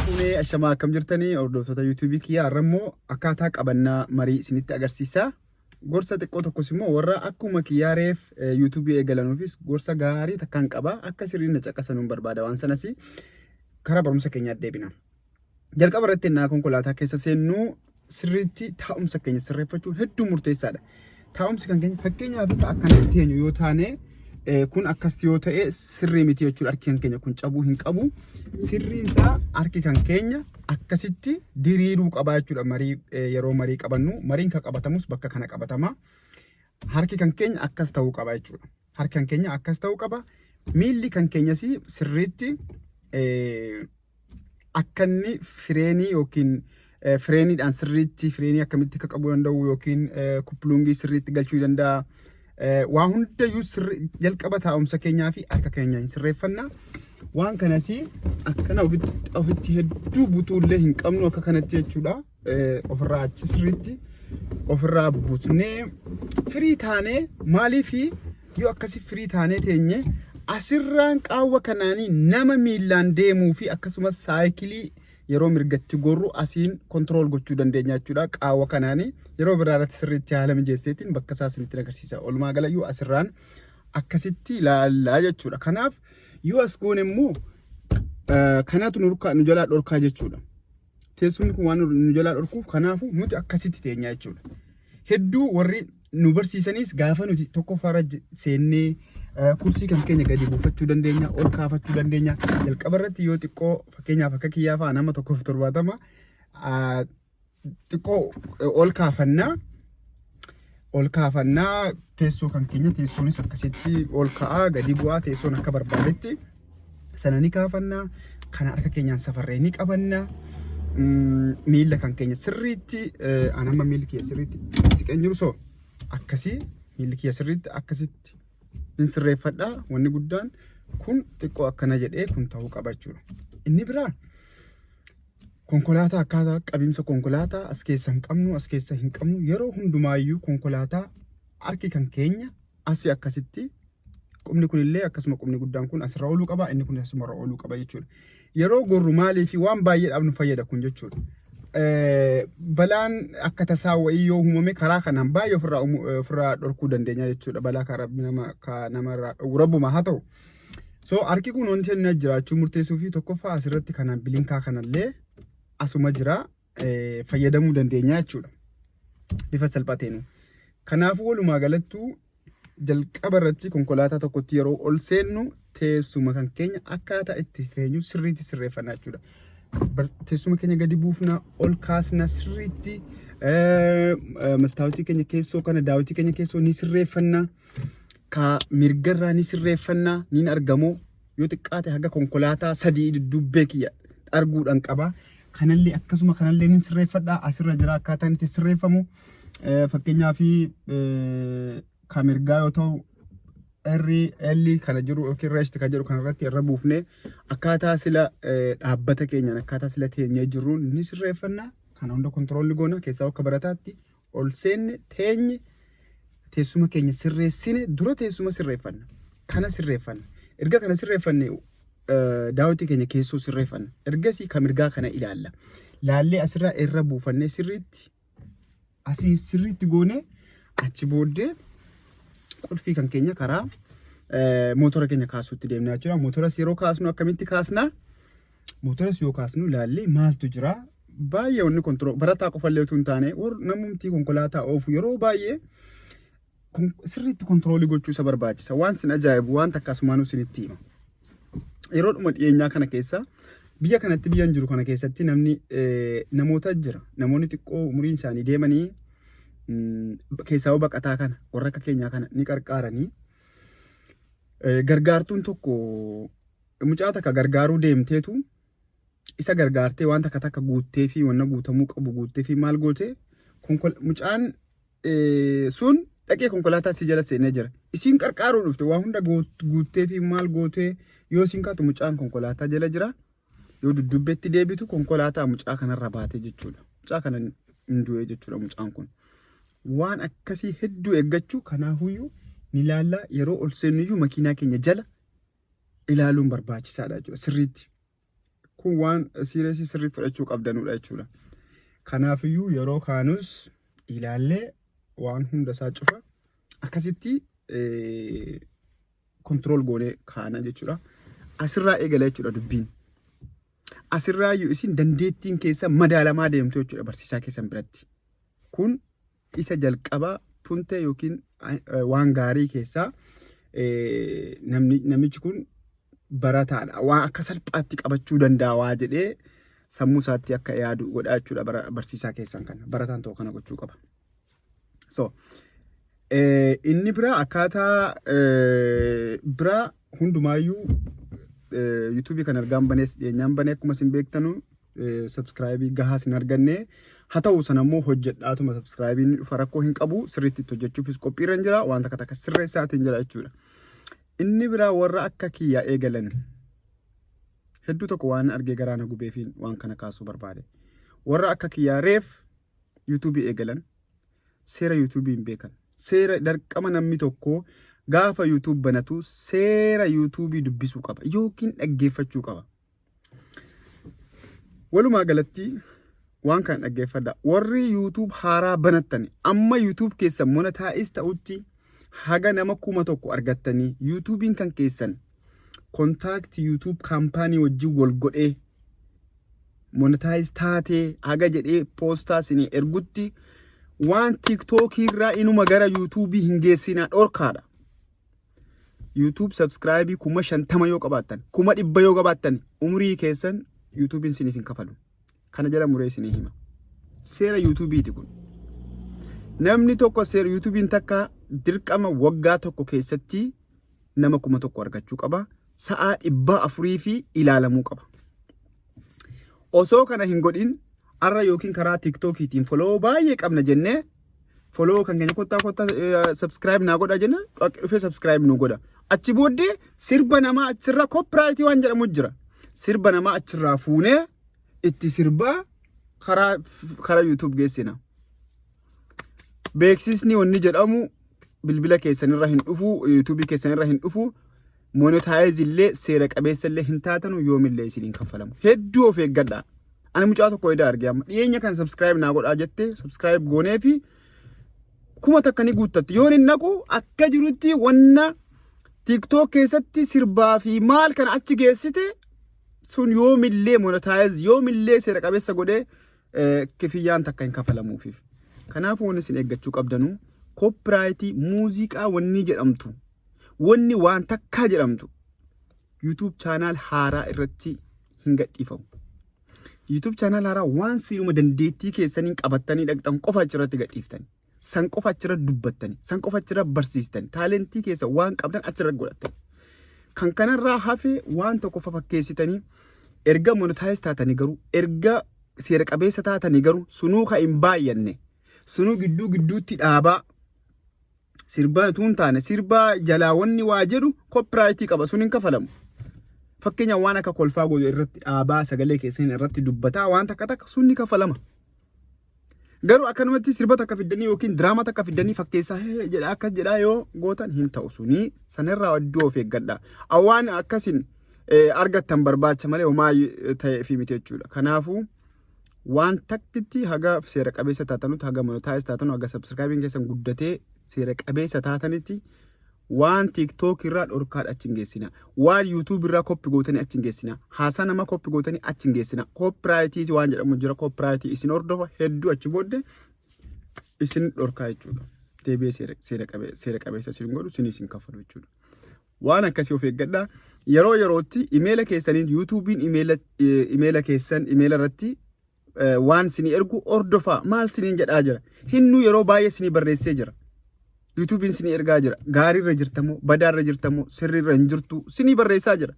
Fuunee ashamaa akkam jirtanii hordoftoota yuutuubii kiyyaa har'a immoo akkaataa qabannaa marii isinitti agarsiisa. Gorsa xiqqoo tokkos immoo warra akkuma kiyyaa reef yuutuubii eegalanuufis gorsa gaarii takkaan qaba akka sirriin na caqasanuun barbaada waan sanas karaa barumsa keenyaa deebina. Jalqaba irratti ennaa konkolaataa keessa seennu sirriitti taa'umsa keenya sirreeffachuun hedduu murteessaadha. Taa'umsi kan keenya fakkeenyaaf akka akkanatti teenyu yoo taane eh, kun akkas yoo ta'e sirrii miti jechuudha harki kan keenya kun cabuu hin qabu. Sirriin isaa harki kan keenya akkasitti diriiruu qabaa jechuudha marii eh, yeroo marii qabannu mariin kan qabatamus bakka kana qabatama. harki kan keenya akkas ta'uu qaba jechuudha. Harki kan keenya akkas ta'uu qaba. Miilli kan keenyas sirriitti eh, akkanni fireenii yookiin fireeniidhaan sirriitti fireenii akkamitti akka qabuu danda'u yookiin kuppilungii sirriitti galchuu danda'a. Waa hundayyuu jalqaba taa'umsa keenyaa fi harka keenya hin sirreeffanna. Waan kanas akkana ofitti hedduu butuullee hin qabnu akka kanatti jechuudha. ofirraa achi sirriitti ofirraa butnee firii taanee maaliif yoo akkasi firii taanee teenye asirraan qaawwa kanaanii nama miillaan deemuu fi akkasumas saayikilii yeroo mirgatti gorru asiin kontirool gochuu dandeenya jechuudha qaawwa kanaanii yeroo biraa irratti sirriitti haala mijeesseetiin bakka isaa isinitti agarsiisa olumaa galayyuu asirraan akkasitti ilaallaa jechuudha kanaaf yoo as goone immoo kanatu nu jalaa dhorkaa jechuudha. teessumni kun waan nu jalaa dhorkuuf kanaafuu nuti akkasitti teenyaa jechuudha. Hedduu warri nu barsiisanis gaafa nuti tokkoffaarra j- seennee eh, kursii kan keenya gadi buufachuu dandeenya, ol kaafachuu dandeenya. Jalqaba irratti yoo xiqqoo fakkeenyaaf akka kiyyaa fa'a nama tokkoof torbaatama ah, xiqqoo eh, ol kaafannaa ol kaafannaa teessoo kan keenya teessoonis akkasitti ol ka'aa gadi bu'aa teessoon akka barbaadetti sana ni kaafannaa kana harka keenyaan safarree ni qabannaa Mm, miila kan keenya sirriitti eh, an amma miilli kiyya sirriitti siqeen jiru soo akkasii miilli kiyya sirriitti akkasitti hin sirreeffadha wanni guddaan kun xiqqoo akkana jedhee kun ta'uu qaba jechuudha inni biraa Konkolaataa akkaataa qabiinsa konkolaataa as keessa hin qabnu as keessa hin qabnu yeroo hundumaayyuu konkolaataa harki kan keenya asii akkasitti qubni kun illee akkasuma qubni guddaan kun asirra ooluu qaba inni kun asumarra ooluu qaba jechuudha. Yeroo gorru maalii fi waan baay'eedhaaf nu fayyada kun jechuudha. Balaan akka tasaa wayii yoo uumame karaa kanaan baay'ee ofirraa ofirraa dhorkuu dandeenya jechuudha. Balaa kan rabbi nama kan namarraa dhowwu rabbuma haa ta'u. So harki kun wanti inni as jiraachuu murteessuu fi tokkoffaa asirratti kana bilinkaa kanallee asuma jira eh, fayyadamuu dandeenya jechuudha. Bifa salphateenu. Kanaafuu walumaa galattuu jalqaba irratti konkolaataa tokkotti yeroo ol seennu teessuma kan keenya akkaataa itti teenyu sirriitti sirreeffannaa jechuudha. Bar- Teessuma keenya gadi buufna, ol kaasna sirriitti eh, eh, mastaawotii keenya keessoo kana daawwitii keenya keessoo ni sirreeffanna. kaa mirga irraa ni sirreeffanna niin argamoo yoo xiqqaate haga konkolaataa sadii dudduubbee kiyya arguudhaan qaba. Kanallee akkasuma kanallee niin sirreeffadha asirra jira akkaataan itti sirreeffamu Eh, fakkeenyaaf eh, ka mirgaa yoo ta'u irri elli kana jiru yookiin reesti kan jedhu kanarratti irra buufne akkaataa sila eh, dhaabbata keenyaan akkaataa sila teenyee jirruun ni sirreeffanna kana hunda kontiroolli goona keessaa akka barataatti ol seenne teenye teessuma keenya sirreessine dura teessuma sirreeffanna. Kana sirreeffanna. Erga kana sirreeffanne daawwitii keenya keessoo sirreeffanna. Ergasii kan mirgaa kana ilaalla. Laallee asirraa irra buufannee sirriitti asii sirriitti goonee achi booddee qulfii kan keenya karaa mootora keenya kaasuutti deemnaa jechuudha. Mootoras yeroo kaasnu akkamitti kaasnaa? Mootoras yoo kaasnu ilaallee maaltu jira? Baay'ee wanni kontiroo barataa qofallee utuu hin taane warra namumti konkolaataa oofu yeroo baay'ee kon- sirriitti kontiroolii gochuu isa barbaachisa. Waan sin ajaa'ibu waan takka asumaanuu sinitti hima. Yeroo dhuma dhiyeenyaa kana keessa biyya kanatti biyyan jiru kana keessatti namni eh, namoota jira. Namoonni xiqqoo umuriin isaanii deemanii mm, keessaa baqataa kana warra akka keenyaa kana ni qarqaaranii Eh, gargaartuun tokko Mucaa takka gargaaruu deemteetu isa gargaartee waan takka takka guuttee fi wanna guutamuu qabu guuttee fi maal gootee mucaan sun dhaqee konkolaataa si jala seenee jira. Isiin qarqaaruu dhufte waa hunda guuttee fi maal gootee yoo isiin kaatu mucaan konkolaataa jala jira. Yoo dudduubbeetti deebitu konkolaataa mucaa kanarra baatee jechuudha. Mucaa kana hin du'ee jechuudha mucaan kun. Waan akkasii hedduu eeggachuu kanaafuyyuu ni laallaa yeroo ol seennuyyuu makiinaa keenya jala ilaaluun barbaachisaadha jechuudha sirriitti. Kun waan siireesii sirrii fudhachuu qabdanudha jechuudha. Kanaafiyyuu yeroo kaanus ilaallee waan hunda isaa cufa akkasitti kontirool goonee kaana jechuudha. Asirraa eegala jechuudha dubbiin. Asirraa iyyuu isin dandeettiin keessa madaalamaa deemtu jechuudha barsiisaa keessan biratti. Kun isa jalqabaa puntee yookiin waan gaarii keessaa namichi kun barataadha. Waa akka salphaatti qabachuu danda'a waa jedhee sammuu isaatti akka yaadu godhaa jechuudha barsiisaa keessan kana. Barataan tokko kana gochuu qaba. So, inni biraa akkaataa biraa hundumaayyuu yuutuubii kan argaan banees dhiyeenyaan banee akkuma isin beektanu sabskraayibii gahaa isin arganne haa ta'u sana immoo hojjedhaatuma sabskraayibii ni dhufa rakkoo hin qabu sirriitti itti hojjechuufis qophiirra hin jira wanta takka takka sirreessaatiin jira jechuudha. Inni biraa warra akka kiyyaa eegalan hedduu tokko waan argee garaa na gubeefiin waan kana kaasuu barbaade. Warra akka kiyyaa reef yuutuubii eegalan seera YouTube hin beekan. Seera dirqama namni tokko gaafa YouTube banatu seera YouTube dubbisuu qaba yookiin dhaggeeffachuu qaba. Walumaa galatti waan kana dhaggeeffadha. Warri YouTube haaraa banattani amma YouTube keessan monetaayiz ta'utti haga nama kuma tokko argattanii YouTubein kan keessan kontaakti YouTube kaampaanii wajjin wal godhee monetize taatee haga jedhee poostaa isinii ergutti waan tiktok irraa inuma gara yuutuubii hin geessinaa dhorkaadha. YouTube subscribe kuma shantama yoo qabaattan kuma dhibba yoo qabaattan umurii keessan YouTubein isiniif hin kafalu. Kana jala muree isinii hima. Seera YouTubeiti kun. Namni tokko seera YouTubein takka dirqama waggaa tokko keessatti nama kuma tokko argachuu qaba. sa'aa dhibbaa afurii fi ilaalamuu qaba. Osoo kana hin godhin arra yookiin karaa tiktookiitiin foloo baay'ee qabna jennee foloo kan keenya kottaa kottaa subscribe naa godha jenna dhaqi dhufee subscribe nu godha. Achi booddee sirba namaa achirraa copyright waan jedhamu jira. Sirba namaa achirraa fuunee itti sirbaa karaa karaa YouTube geessina. beeksisni wanni jedhamu bilbila keessanirra hin dhufu yuutuubii keessanirra hin dhufu monetaayiz illee seera qabeessa illee hin taatanu yoomillee isiniin kaffalamu hedduu of eeggadha ani mucaa tokko edaa arge amma dhiyeenya kana sabskiraayib naa godhaa jette sabskiraayib goonee fi kuma takka ni guuttatti yoon hin naqu akka jirutti wanna tiktook keessatti sirbaa fi maal kana achi geessite sun yoomillee monetaayiz yoomillee seera qabeessa godhee kifiyyaan takka hin kafalamuufiif. Kanaaf wanni isin eeggachuu qabdanu koopiraayitii muuziqaa wanni jedhamtu wanni waan takkaa jedhamtu YouTube chaanaal haaraa irratti hin gadhiifamu. YouTube chaanaal haaraa waan siiluma dandeettii keessaniin qabattanii dhaqxan qofa achirratti gadhiiftani. San qofa achirra dubbattani. San qofa achirra barsiistani. Taalentii keessa waan qabdan achirra godhattani. Kan kanarraa hafe waan tokko fafakkeessitanii erga monetaayiz taatanii garuu erga seera qabeessa taatanii garuu sunuu kan hin baay'anne sunuu gidduu gidduutti dhaabaa sirbaa utuu hin taane sirbaa jalaa wanni waa jedhu koppiraayitii qaba sun hin kafalamu. Fakkeenya waan akka kolfaa godhu irratti dhaabaa sagalee keessan irratti dubbataa waan takka takka sun ni kafalama. Garuu akkanumatti sirba takka fiddanii yookiin diraamaa takka fiddanii fakkeessaa hee jedha akkas jedhaa yoo gootan hin ta'u sunii sanirraa iddoo of eeggadha. Awwaan akkasin eh, argattan barbaacha malee homaa eh, ta'ee fi miti jechuudha. Kanaafuu waan takkitti haga seera qabeessa taatanutti haga monotaayis taatanu haga sabsirkaabiin keessan guddatee seera qabeessa taatanitti Waan TikTok irraa dhorkaadha achi hin geessina. Waan YouTube irraa koppi gootanii achi hin geessina. Haasaa nama koppi gootanii achi hin geessina. Koopiraayitii waan jedhamu jira. Koopiraayitii isin hordofa hedduu achi booddee isin dhorkaa jechuudha. Deebi'ee seera seera qabe- seera qabeessa isin godhu isin isin kaffalu jechuudha. Waan akkasii of eeggadhaa. Yeroo yerootti imeela keessaniin yuutuubiin imeela eh, imeela keessan imeela irratti waan sini ergu hordofaa maal siniin jedhaa jira hinnu yeroo baay'ee sini barreessee jira yuutuubiin sini ergaa jira gaariirra jirtamoo badaarra jirtamoo sirriirra hin jirtu sini barreessaa jira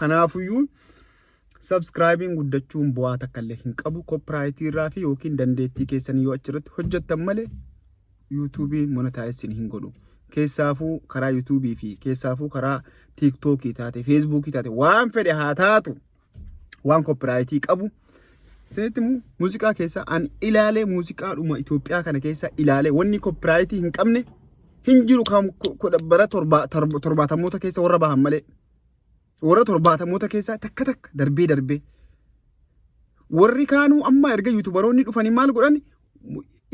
kanaafuyyuu sabskraayibiin guddachuun bu'aa takka illee hin qabu koppiraayitiirraa fi yookiin dandeettii keessanii yoo achirratti hojjettan malee yuutuubii monetaayisin hin godhu keessaafuu karaa yuutuubii fi keessaafuu karaa tiiktookii taate feesbuukii taate waan fedhe haa taatu waan koppiraayitii qabu isinitti himu muuziqaa keessa an ilaalee muuziqaadhuma Itoophiyaa kana keessa ilaalee wanni koppiraayitii hin qabne hin jiru kan kudha bara torbaa- torba- torbaatamoota keessa warra bahan malee warra torbaatamoota keessaa takka takka darbee darbee warri kaanuu amma erga yuutubaroonni dhufanii maal godhan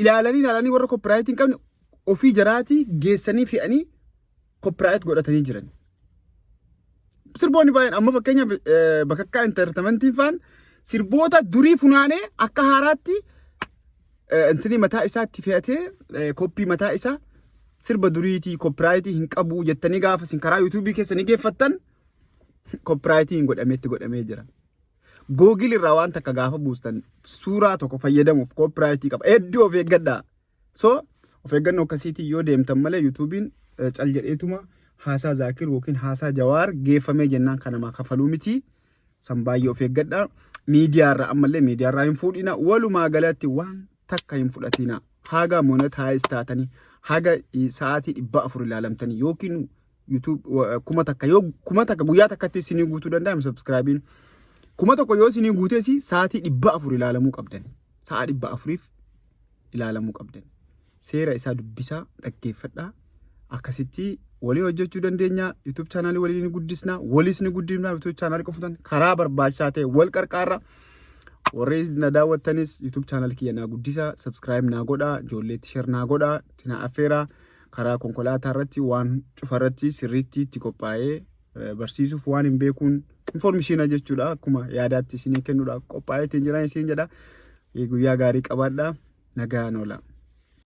ilaalanii ilaalanii warra koppiraayitii hin qabne ofii jaraatii geessanii fe'anii copyright godhatanii jiran. Sirboonni baay'een amma fakkeenyaaf eh, bakakkaa intartamantiin faan sirboota durii funaanee akka haaraatti eh, intini mataa isaatti fe'atee eh, koppii mataa isaa sirba duriitii copyrightii hin qabu jettanii gaafa isin karaa yuutuubii keessa ni geeffattan copyrightii hin godhametti godhamee jira. Google irraa waan takka gaafa buustan suuraa tokko fayyadamuuf copyrightii qaba. Hedduu of eeggadhaa. So of eeggannoo akkasiitiin yoo deemtan malee yuutuubiin cal jedheetuma haasaa Zaakir yookiin haasaa Jawaar geeffamee jennaan kan namaa kafaluu miti. San baay'ee of eeggadha. Miidiyaarra ammallee miidiyaarraa hin fuudhina. Walumaa galatti waan takka hin fudhatina. Haga monetaayiz taatanii haga sa'aatii dhibba afur ilaalamtanii yookiin YouTube kuma takka yoo kuma takka guyyaa takkatti isinii guutuu danda'ame subscribein kuma tokko yoo isinii guutees sa'aatii dhibba afur ilaalamuu qabdan sa'a dhibba afuriif ilaalamuu qabdan seera isaa dubbisaa dhaggeeffadhaa akkasitti walii hojjechuu dandeenya YouTube chaanaalii walii ni guddisna waliis ni guddifna YouTube chaanaalii qofuudhaan karaa barbaachisaa ta'e wal qarqaarra warri na daawwattanis YouTube chaanaalii kiyya naa guddisaa subscribe naa godhaa ijoolleetti share naa godhaa tinaa affeeraa karaa konkolaataa irratti waan cufa irratti sirriitti itti qophaa'ee eh, barsiisuuf waan hin beekuun infoormishiina jechuudha akkuma yaadaatti isinii kennuudha qophaa'ee ittiin jiran isin jedha Eh, guyyaa gaarii qabaadha nagaan oola.